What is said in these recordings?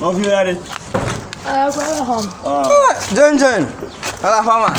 Nɔvi ya ɖe. Jenjen, ala fama.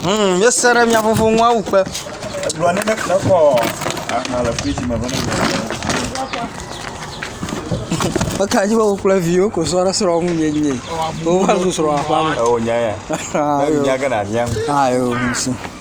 Hmm, ye se ɖe mia ƒoƒo ŋu awu kpe. Egblɔ ne ne kple kɔ aha le friji me bene. Meka dzi be wo kple viwo ko srɔ̃ ɖe srɔ̃ ŋu nye nye. Wo va zu srɔ̃ aƒa me. Ewo nya ya. Ayo. Nya gana nya. Ayo, nsi.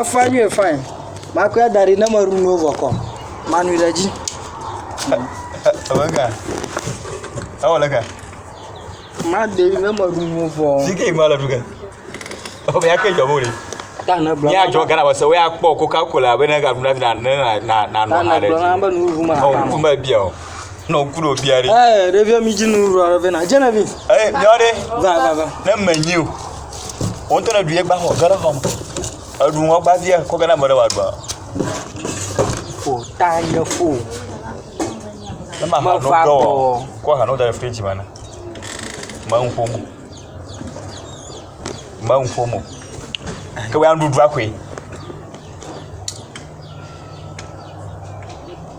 Efã nyuie fine. Makɔe adaɖi ne meɖu nuwo vɔ kɔ. Manui ɖe dzi. Ewɔ ga. Ewɔ le ga. Maɖe ne meɖu nuwo vɔ. Zike yi ma le ɖuge. Efɔ be yake jɔ bole. Ta ne gblɔ. Ya jɔ gana wase wo ya kpɔ Coca-Cola be ne ga ɖu na na na na na. Ta ne gblɔ na be nu ʋu ma. Ɔ, tu me bia o. nɔ ŋku ɖo bia ɖe. ɛɛ ɖevia mi dzi nu ɖua ɖe na genevi. ɛɛ bia ɖe. va va va. ne me nyi o o ŋutɔ ne ɖu ye gba xɔ ge ɖe xɔ me eɖu ŋɔ gba via kɔ ge na me ɖe wa gba. o ta nye fo. ne ma ha no dɔ wɔ kɔ ha no da ɖe fridge me na ma ŋu ƒom ma ŋu ƒom o ke wa nuɖuɖu akoe.